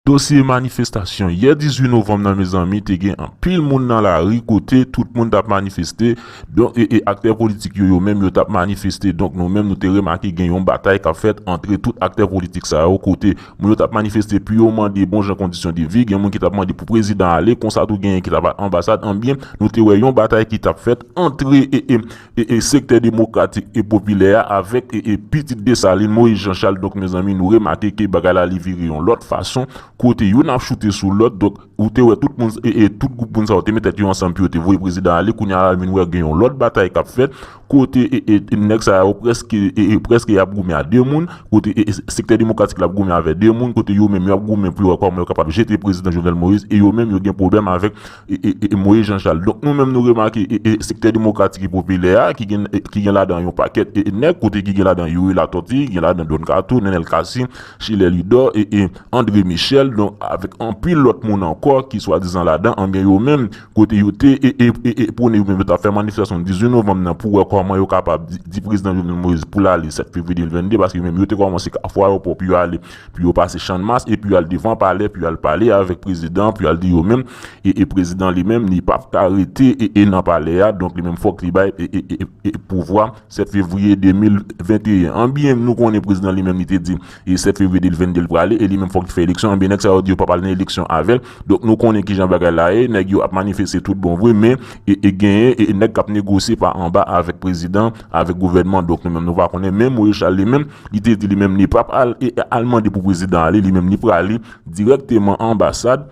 Dosye manifestasyon yè 18 novanm nan mezanmi te gen anpil moun nan lari kote tout moun tap manifeste donk e e aktè politik yo yo menm yo tap manifeste donk nou menm nou te remake gen yon batay kap fèt antre tout aktè politik sa yo kote moun yo tap manifeste pu yo mande bon jan kondisyon de vi gen moun ki tap mande pou prezidan ale konsa tou genyen ki tap al anbasad anbyen nou te wè yon batay ki tap fèt antre e e e e sektè demokratik e popilè a avèk e e pitit Desalin, Moyiz Janchal donk mezanmi nou remake ke bagay la li vire yon lòt fason kote youn ap choute sou lòt donk ou te wè tout moun e e tout gwoup moun sa yo te met tèt yo ansanm pou yo te voye prezidan ale kounye a la nou vin wè gen yon lòt batay kap fèt kote e e nèg sa yo prèske e e prèske yap goumen a 2 moun kote e e sektè demokratik la ap goumen avè 2 moun kote yo menm yap goumen pou yo wè kòman yo kapab jete prezidan Jovenel Moïse e yo menm yo gen pwoblèm avèk e Moyiz Jan Chal. Donk nou menm nou remake e sektè demokratik e popilè a ki gen ki gen ladan yon pakèt e nèg kote ki gen ladan Youri Latòti, gen ladan Don Kato, Nenel Kasi, Chilè Lidò e e Andre Michèl don avèk anpil lòt moun ankò ki swadizan ladan anben yo menm kote yo te e e e pwone yo menm yo t ap fè manifestasyon 18 novanm nan pou wè kòman yo kapab di di prezidan Jovenel Moyiz pou l ale 7 fevriye 2022 paske yo menm yo te kòmanse Kafou Ayewopò pou yo ale Pu yo pase channmas e pu yal devan palè pu yal pale avèk prezidan pu yal di yo menm e e prezidan li menm li pap ka rete e e nan palè a donk li menm fòk li bay e e e e pouvwa 7 fevriye 2021 anbyen nou konnen prezidan li menm li te di e 7 fevriye 2022 li prale e li menm fòk li fè eleksyon anbyen nèg sa yo di yo pap al nan eleksyon avèl Donk nou konnen kijan bagay la ye, nèg yo ap manifeste tout bon vre men e genyen nèg k ap negosye pa anba avèk prezidan, avèk gouvènman donk nou menm nou pa konnen men Morechal li menm li te di li menm li pap al e al mande pou prezidan ale li menm li prale dirèkteman anbasad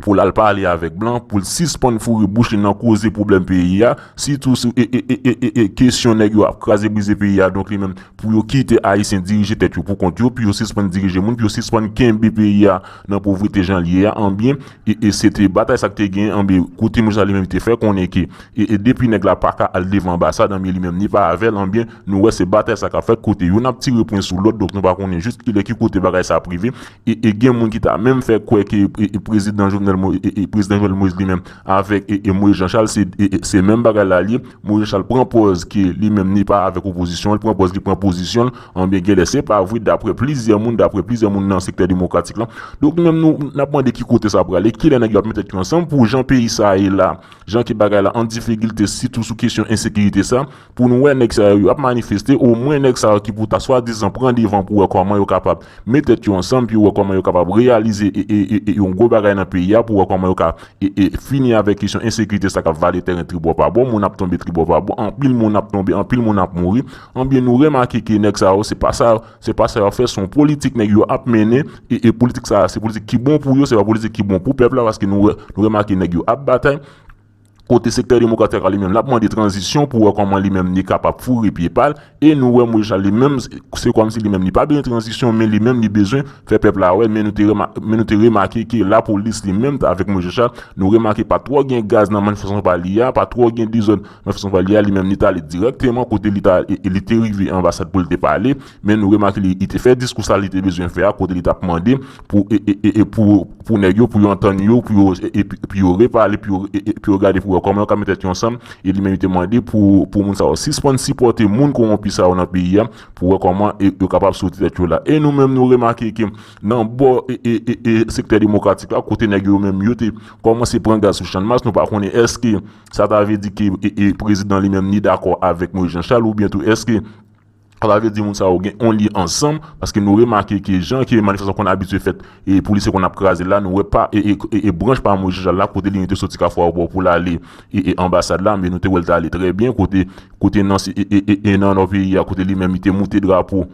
pou l al pale avèk blan pou l sispann foure bouch li nan koze pwoblèm peyi a sitou sou e kesyon nèg yo ap kraze brize peyi a donk li menm pou yo kite ayisyen dirije tèt yo pou kont yo pou yo sispann dirije moun pou yo sispann kenbe peyi a. nan povrete jan l ye a anbyen e e se te batay sa k te gen anbyen kote moun sa li menm te fè konnen ke e e depi nèg la paka al devan anbasad anbyen li menm ni pa avè l anbyen nou wè se batay sa k ap fèt kote youn ap tire pwen sou lòt donk nou pa konnen jis kilè ki kote bagay sa ap rive e e gen moun ki ta menm fè kwè ke e e prezidan jovenel mo e e prezidan jovenel moïse li menm avèk e e moïse jan chal se e e se menm bagay la ye moïse jan chal pran pòz ke li menm ni pa avèk opozisyon an li pran pòz li pran pozisyon l Anbyen genlè se pa vre daprè plizyè moun, daprè plizyè moun nan sektè demokratik lan. Donk nou menm nou nap mande ki kote sa prale, kilè nèg yo ap met tèt yo ansanm pou jan peyi sa a ye la, jan ke bagay la an difigilte sitou sou kesyon ensekirite sa, pou nou wè nèg sa yo yo ap manifeste, omwen nèg sa yo ki pou ta swadizan pran devan pou wè kòman yo kapab met tèt yo ansanm pou yo wè kòman yo kapab reyalize yon gwo bagay nan peyi a, pou wè kòman yo ka fini avèk kesyon ensekirite sa kap vale tèren tribòpabò, moun ap tonbe tribòpabò, anpil moun ap tonbe, anpil moun ap mouri. Enbyen nou remake ke nèg sa yo se pa sa se pa sa yo ap fè se yon politik nèg yo ap mennen e politik sa se politik ki bon pou yo se pa politik ki bon pou pèp la paske nou wè nou remake nèg yo ap batay kote sektè demokratik la li menm l ap mande tranzisyon pou wè kòman li menm li kapab foure pye pa l e nou wè Moyiz Chalès li menm se kòmsi li menm li pa bezwen tranzisyon men li menm li bezwen fè pèp la wè men nou te men nou te remake ke lapolis li menm avèk Moyiz Chalès nou remake pa twò gen gaz nan manifestasyon pa li a pa twò gen dezòd Jefferson Valliere li menm li t ale dirèkteman kote li ta e li te rive anbasad pou li te pale, men nou remake li li te fè diskou sa li te bezwen fè a kote li t ap mande pou e e e pou pou nèg yo pou yo antann yo pou yo e e pou yo repale pou yo e e pou yo gade pou wè kòman yo ka metèt yo ansanm e li menm li te mande pou pou moun sa yo sispann sipòte moun kowonpi sa yo nan peyi a pou wè kòman e yo kapab soti tèt yo la e nou menm nou remake ke nan bò e e e e sektè demokratik la kote nèg yo menm yo te kòmanse pran gaz sou channmas nou pa konnen èske Sa ta vle di ke prezidan li menm li dakò avèk Moyiz Janchal oubyen tou èske sa ta vle di moun sa yo gen yon lyen ansanm paske nou remake ke jan ke manifestasyon konn abitye fèt e polisye konn ap kraze la nou wè pa e branch pa Moyiz Janchal la kote li menm te soti Kafou-Aéroport pou l ale e anbasad la men nou te wè l te ale trè byen kote kote nan e nan nò peyi a kote li menm li te moute drapo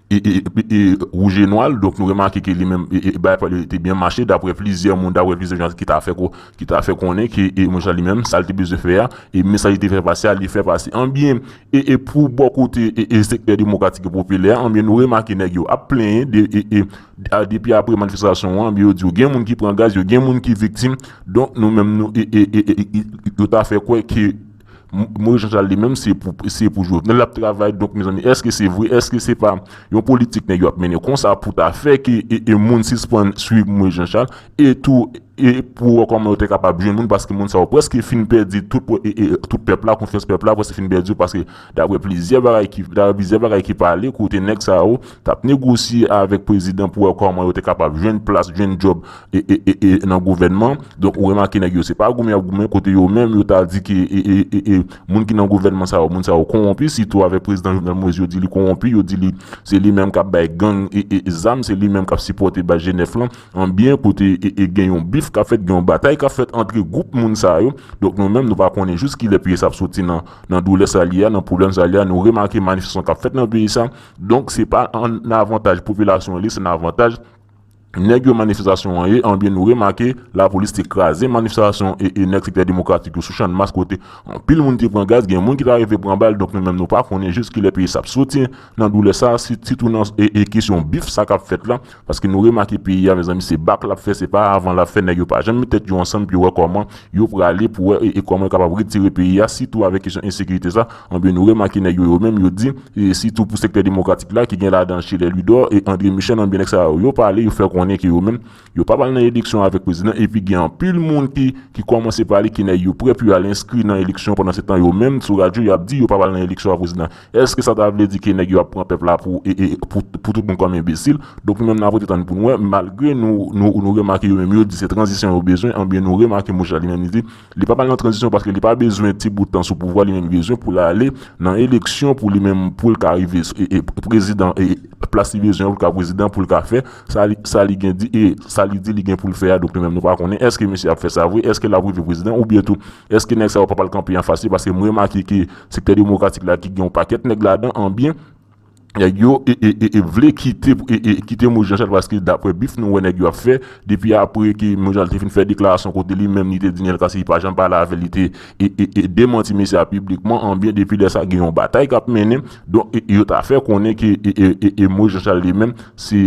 Rougenwald, donk nou remake ke li menm bagay pa li te byen mache dapre plizyè moun, dapre plizyè jan ki ta fè ko, ki ta fè konnen ke Monchè Chal li menm sa li te bezwen fè a, e mesaj li te fè pase a, li fè pase. Anbyen, e pou bò kote e sektè demokratik e popilè a, anbyen nou remake nèg yo ap plenyen de e a depi apre manifestasyon an, anbyen yo di yo gen moun ki pran gaz, yo gen moun ki viktim, donk nou menm nou e e e yo ta fè kwè ke. Moise Jean Charles li menm se pou se pou Jovenel lap travay donk mezanmi eske se vre eske se pa yon politik nèg yo ap mennen konsa pou ta fè ke e moun sispann swiv Moise Jean Charles e tou e pou wè kòman yo te kapab jwenn moun paske moun sa yo prèske fin pèdi tout e tout pèp la konfyans pèp la prèske fin pèdi yo paske daprè plizyè bagay ki daprè plizyè bagay ki pale kote nèg sa yo tap negosye avèk prezidan pou wè kòman yo te kapab jwenn plas jwenn djòb e nan gouvènman donk ou remake nèg yo se pa goumen yap goumen kote yo menm yo ta di ke e moun ki nan gouvènman sa yo moun sa yo konwonpi sitou avèk prezidan Jovenel Moïse yo di li konwonpi yo di li se li menm kap bay gang e zam se li menm kap sipòte baz jenèf lan anbyen kote e gen yon bif kap fèt gen yon batay kap fèt antre gwoup moun sa yo donk nou menm nou pa konnen jous kilè peyi sa ap soti nan nan doulè sa li a nan pwoblèm sa li a nou remake manifestasyon kap fèt nan peyi sa donk se pa an avantaj popilasyon li se nan avantaj Nèg yo manifestasyon an ye anbyen nou remake lapolis te kraze manifestasyon e e nèg sektè demokratik yo sou channmas kote anpil moun te pran gaz gen moun ki ta rive pran bal donk nou menm nou pa konnen jis kilè peyi sa ap soti nan doulè sa sitou nan e e kesyon bif sa kap fèt la paske nou remake peyi a mezanmi se bak lap fè se pa avan lap fè nèg yo pa janm met tèt yo ansanm pou yo wè kòman Yo prale pou wè e kòman yo kapab retire peyi a sitou avèk kesyon ensekirite sa, anben nou remake nèg yo yo menm yo di e sitou pou sektè demokratik la ki gen ladan Chelè Lwidò e Andre Michèl anben nèg sa yo yo pale yo fè konnen ke yo menm yo pap al nan eleksyon avèk prezidan epi gen anpil moun ki ki kòmanse pale ke nèg yo prè pou yo al enskri nan eleksyon pandansetan yo menm sou radyo yap di yo pap al nan eleksyon avèk prezidan Eske sa ta vle di ke nèg yo ap pran pèp la pou pou tout moun kòm enbesil? Donk nou menm n ap rete tann pou n wè, malgre nou nou remake yo menm yo di se tranzisyon yo bezwen anbyen nou remake mouche la li menm li di li pa pral nan tranzisyon paske li pa bezwen ti bout tan sou pouvwa li menm li bezwen pou l ale nan eleksyon pou li menm pou l ka rive prezidan e plas li bezwen an pou l ka prezidan pou l ka fè sa li sa li gen di e sa li di li gen pou l fè a donk nou menm nou pa konnen eske misye ap fè sa vre eske l ap rive prezidan oubyen tou Eske nèg sa yo pap al kanpe anfas li paske m remake ke sektè demokratik la ki gen yon pakèt nèg ladan an byen nèg yo vle kite kite Moise Jean Charles paske daprè bif nou wè nèg yo ap fè depi apre ke Moise Jean Charles te fin fè deklarasyon kote li menm li te di Neel Cassy li pa janm pale avè l li te demanti mesye a piblikman an byen depi lè sa gen yon batay kap mennen donk yo ta fè konnen ke Moise Jean Charles li menm se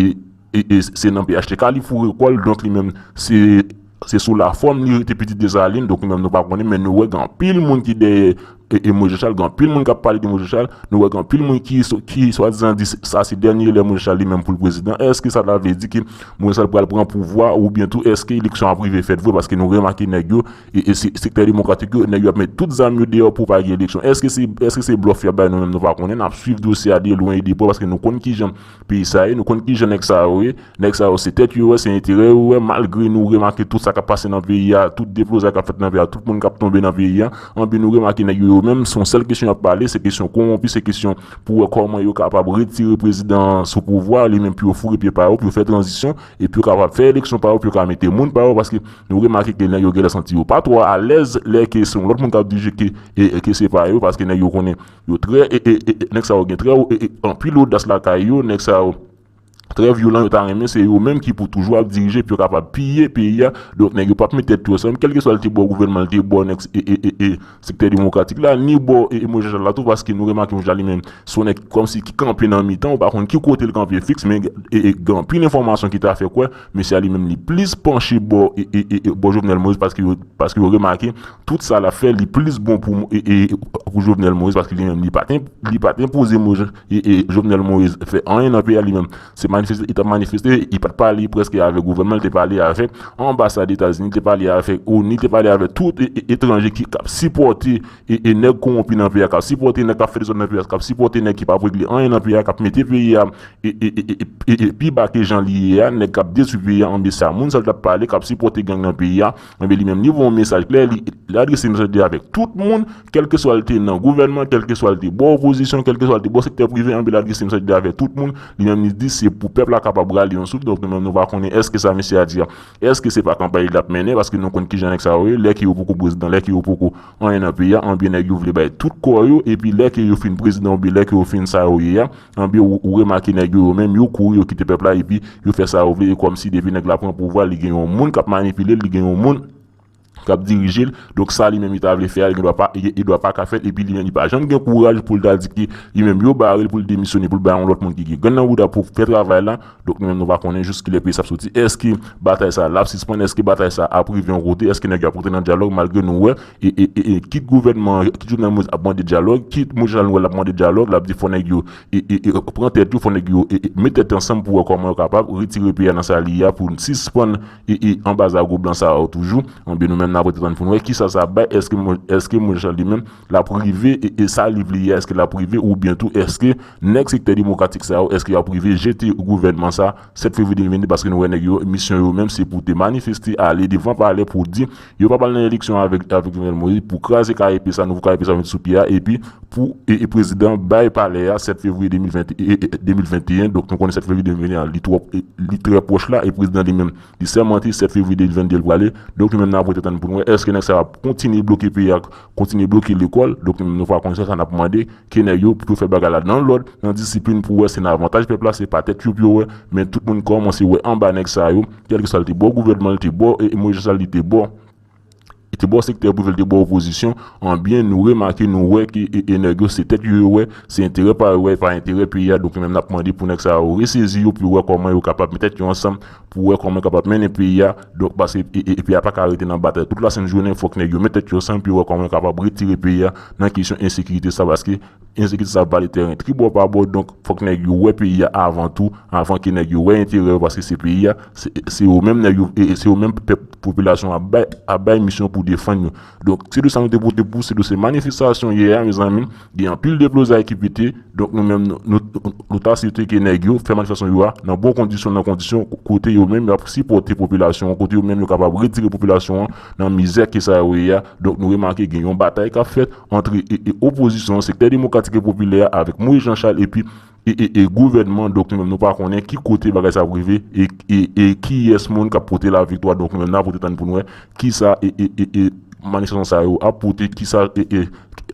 E se nan phtk li foure kò l donk li menm se sou lafòm li rete pitit Desalin donk nou menm nou pa konnen men nou wè gen anpil moun ki dèyè Moise Charles gen anpil moun k ap pale de Moise Charles nou wè gen anpil moun ki swadizan di sa se dènye lè Moise Charles li menm pou l prezidan èske sa ta vle di ke Moise Charles pral pran pouvwa oubyen tou èske eleksyon ap rive fèt vre paske nou remake nèg yo sektè demokratik yo nèg yo ap met tout zam yo deyò pou pa gen eleksyon èske se blòf y ap bay nou menm nou pa konnen n ap swiv dosye a de lwen e de prè paske nou konn kijan Peyi sa ye nou konn kijan nèg sa yo ye nèg sa yo se tèt yo wè se enterè yo wè malgre nou remake tout sa kap pase nan peyi a tout deblozay kap fèt nan peyi a tout moun kap tonbe nan peyi a anben nou remake nèg yo yo menm son sèl kesyon yap pale se kesyon konwonpi se kesyon pou wè kòman yo kapab retire prezidan an sou pouvwa li menm pou yo foure pye pa yo pou yo fè tranzisyon epi yo kapab fè eleksyon pa yo pou yo ka mete moun pa yo paske nou remake ke nèg yo gèlè santi yo pa twò alèz lè ke se yon lòt moun kap dirije ke ke se pa yo paske nèg yo konnen yo trè e e e nèg sa yo gen trè o e e anpil odas lakay yo nèg sa yo trè vyolan yo ta renmen se yo menm ki pou toujou ap dirije pou yo kapab piye peyi a donk nèg yo pap met tèt yo ansanm kèlkeswa li te bò gouvènman li te bò nèg e e e sektè demokratik la ni bò e e Moise Jean Charles la tou paske nou remake Moise Jean Charles li menm se yon nèg kòmsi ki kanpe nan mitan ou pa konn ki kote li kanpe fiks men e e gen anpil enfòmasyon ki ta fè kwè mesye a li menm li plis panche bò e e e bò Jovenel Moise paske yo paske yo remake Tout sa lap fè li plis bon pou pou Jovenel Moïse paske li menm li pat li pat enpoze Jovenel Moïse fè anyen nan peyi a li menm se manifeste li tap manifeste li pat pale prèske avèk gouvènman li te pale avèk anbasad etazini li te pale avèk onu li te pale avèk tout etranje ki kap sipòte nèg kowonpi nan peyi a kap sipòte nèg kap fè dezòd nan peyi a kap sipòte nèg ki pap regle anyen nan peyi a kap mete peyi a pi ba ke jan li ye a nèg kap detwi peyi a anben sa moun sa li tap pale kap sipòte gang nan peyi a. Enben li menm li voye yon mesaj klè, li adrese mesaj li avèk tout moun, kèlkeswa li te nan gouvènman, kèlkeswa li te bò opozisyon, kèlkeswa li te bò sektè prive, anben li adrese mesaj li avèk tout moun, li menm li di se pou pèp la kapab rale yon souf, donk nou menm nou va konnen èske sa mesye a di a, èske se pa kanpay li lap mennen, paske nou konn kijan nèg sa yo ye, lè ke yo poko prezidan, lè ke yo poko anyen nan peyi a, anben nèg yo vle bay tout kò yo, epi lè ke yo fin prezidan oubyen lè ke yo fin sa yo ye a, Anbyen ou remake nèg yo yo menm yo kouri yo kite pèp la epi yo fè sa yo vle e kòmsi depi nèg la pran pouvwa li gen yon moun kap manipilel li gen yon moun kap dirijel donk sa li menm li ta vle fè a li gen dwa pa li dwa paka fèl epi li menm li pa janm gen kouraj poul ta di ke li menm yo barel poul demisyone poul bay yon lòt moun ki gen grenn nan bouda pou fè travay la. Donk nou menm nou pa konnen jous kilè peyi sa ap soti. Eske batay sa l ap sispann? Eske batay sa ap rive yon kote? Eske nèg yo ap rantre nan dyalòg malgre nou wè e kit gouvènman an, kit Jovenel Moïse ap mande dyalòg, kit Moise Jean-Lenoir l ap mande dyalòg, l ap di fò nèg yo pran tèt yo, fò nèg yo met tèt yo ansanm pou wè kòman yo kapab retire peyi a nan sa li ye a pou n sispann anba zago blan sa yo toujou. Enben nou menm n ap rete tann pou n wè kisa sa ap bay. Eske Moise Jean li menm Lap rive e esa liv li ye eske lap rive ou byen tou eske nèg sektè demokratik sa yo eske yap rive jete gouvènman sa 7 fevri 2022 paske nou wè nèg yo misyon yo menm se pou te manifeste ale devan palè pou di yo pap al nan eleksyon avèk avèk jovenel moïse pou kraze kayp sa nouvo kayp sa met sou pye a epi pou e prezidan bay palè a 7 fevriye 2020 2021 donk nou konnen 7 fevriye 2021 an li twòp li trè pwòch la e prezidan li menm li sèmante 7 fevriye 2022 li prale donk nou menm nap rete tann poun wè eske nèg sa yo ap kontinye bloke peyi a Kontinye bloke lekòl, donk nou va konn se sa n ap mande kenè yo pou yo fè bagay la nan lòd, nan disiplin pou wè se nan avantaj pèp la, se pa tèt yo pou yo wè, men tout moun kòmanse wè anba nèg sa yo, kèlkeswa li te bò gouvènman, li te bò Moïse Jean Charles, li te bò li te bò sektè prive, li te bò opozisyon, anbyen nou remake, nou wè ke nèg yo se tèt yo yo wè, se enterè pa yo wè, e pa enterè peyi a, donk nou menm n ap mande pou nèg sa yo resezi yo pou yo wè kòman yo kapab met tèt yo ansanm Pou wè kòman yo kapab mennen peyi a, donk pase peyi a pa ka rete nan batay tout lasent jounen, fòk nèg yo met tèt yo ansanm pou yo wè kòman yo kapab retire peyi a nan kesyon ensekirite sa paske ensekirite sa ap vale tèren tribò pa bò donk fòk nèg yo wè peyi a avan tou avan ke nèg yo wè enterè yo paske se peyi a se yo menm nèg yo se yo menm pèp popilasyon an ap bay misyon pou defann yo donk se de sa nou te pote pou se de se manifestasyon yè a mezanmi. Gen anpil deblozay ki pete, donk nou menm nou ta swete ke nèg yo fè manifestasyon yo a nan bon kondisyon, nan kondisyon kote yo menm yo ap sipòte popilasyon an, kote yo menm yo kapab retire popilasyon an nan mizè ke sa yo ye a. Donk nou remake gen yon batay k ap fèt antre opozisyon an, sektè demokratik e popilè a avèk Moyiz Janchal epi. e gouvènman donk nou menm nou pa konnen ki kote bagay sa ap rive e kiyès moun kap pote la viktwa donk nou menm nap rete tann poun wè kisa e manifestasyon sa yo ap pote kisa e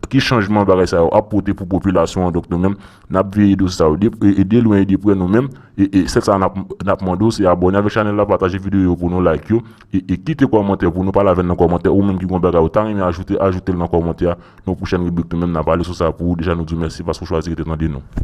ki chanjman bagay sa yo ap pote pou popilasyon an donk nou menm nap veye dosye sa yo de lwen e de prè nou menm e sèl sa nap mande w se abòne avèk chanèl la pataje videyo yo pou nou like yo e kite kòmantè pou nou pale avèn nan kòmantè ou menm ki gon bagay ou ta renmen ajoute ajoutel nan kòmantè nou pwochèn ribrik nou menm nap ale sou sa pou ou deja nou di w mèsi paske w chwazi rete tande nou.